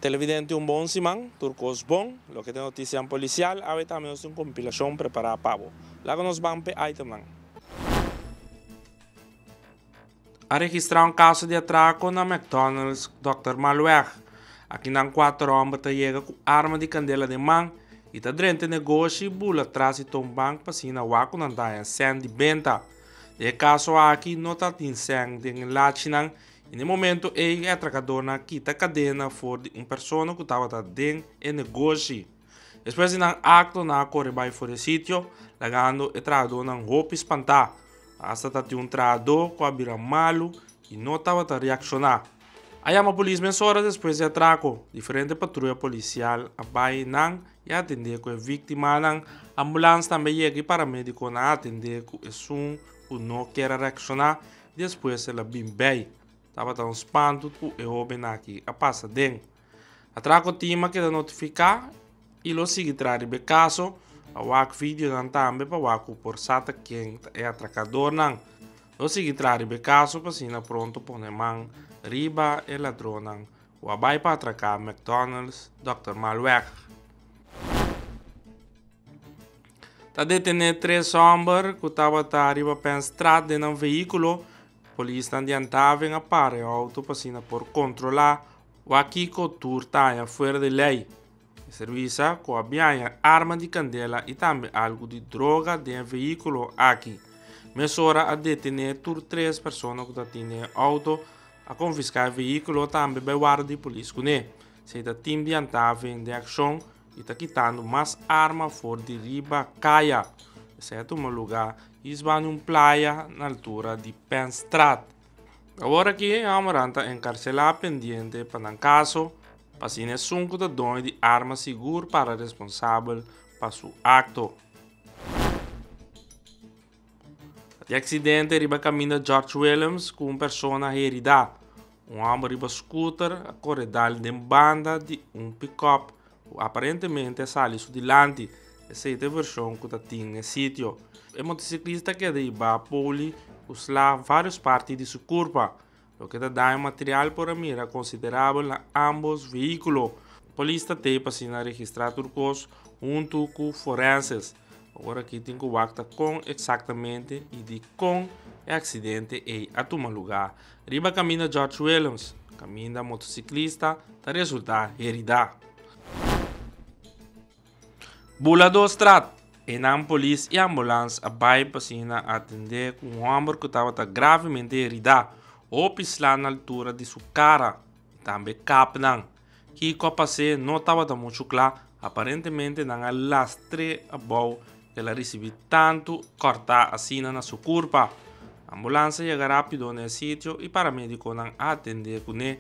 Televidente un bon siman, tur kos bon. Loke ta e notisianan polisial, awe tambe nos tin un kompilashon prepará pa bo. Laga nos ban pa e itemnan. A registrá un kaso di atrako na McDonald's Dòkter Malweg. Akinan kuater hòmber ta yega ku arma di kandela den man i ta drenta e negoshi, bula tras i ton bank pa siña na wak ku nan daña sèn di benta. Den e kaso aki no ta tin sèn den e lachinan En e momento ey e atracadornan a kita cadena for di un persona cu tabata den e negoshi. Despues di nan acto nan a core bay for e sitio, lagando e trahadornan hopi spanta. Hasta ta tin un trahador cu a bira malu y no tabata reacciona. A yama polis meshora despues di atraco. Diferente patruya policial a bay nan y a atende cu e victimanan. Ambulance tambe a yega y paramediconan a atende cu esun cu no kier a reacciona. Despues el a bin bey. Tabata un spantu cu e hoben aki a pasa den. A traha cotin ma keda notifica y lo sigui traha riba e caso. A wak videonan tambe pa wak cu por sa ta ken ta e atracadornan. Lo sigui traha riba e caso pa asina pronto pone man riba e ladronnan cu a bay pa atraca McDonald's Dòkter Malweg. Ta detené tres hòmber ku tabata ariba pa e strat den nan vehíkulo. Polisnan di Antá a ven a para e outo pa asina por kontrolá wak kiko tur ta haña fuera di lei. E servisa ku a bin haña arma di kandela i tambe algu di droga den e vehíkulo aki. Mesora a detené tur tres persona ku tatin den e outo, a konfiská e vehíkulo tambe bai warda di polis kuné. Seita tim di Antá a ven den akshon. I ta kitando mas arma for di riba kaya, esèpto un lugá hisba di un playa na altura di Penstraat. Awor aki e hòmbernan ta enkarselá pendiente pa nan kaso, pa asina esun ku ta doño di arma sigur para responsabel pa su akto. E aksidente riba kaminda George Willems ku un persona a heridá. Un hòmber riba skuter a kore dal den banda di un pikòp ku aparentemente a sali su dilanti, esei ta e vershon ku ta tin e sitio. E motosiklista keda i bá poli ku sla vários parti di su kurpa. Loke ta daño material por a mira considerabel na ambos vehiculo. Polis ta tey pa asina registra tur cos hunto cu forenses. Awor aki tin cu wacta con exactamente y dicon e accidente ey a tuma lugar. Riba caminda George Willems, caminda motociclista ta resulta herida. Buladostraat, E nan polis i ambulans a bai pa siña nan atendé ku un hòmber ku tabata gravemente heridá, hopi slá na altura di su kara i tambe kap nan. Kiko a pas'é no tabata muchu kla, aparentemente nan a lastr'é abou i el a risibí tantu kòrtá asina na su kurpa. Ambulans a yega rápido na e sitio i paramédikonan a atendé kuné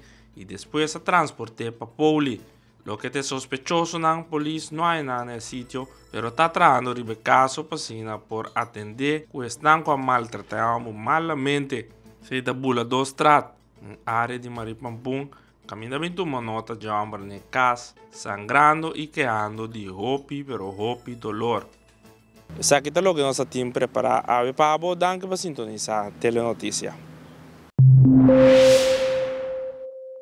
i despues a transport'é pa Pouli. Loke ta e sospechosonan, polis no haya nada na e sitio, pero ta trahando riba e caso pa asina por atende cu esnan cu a maltrata e homber malamente. Esei ta Buladostraat, un area di Maripampun. Caminda bin tuma nota dje homber na e cas, sangrando y kehando di hopi pero hopi dolor. Esaki ta loke nos a tin prepara awe pa abo, danki pa sintonisa Telenoticia.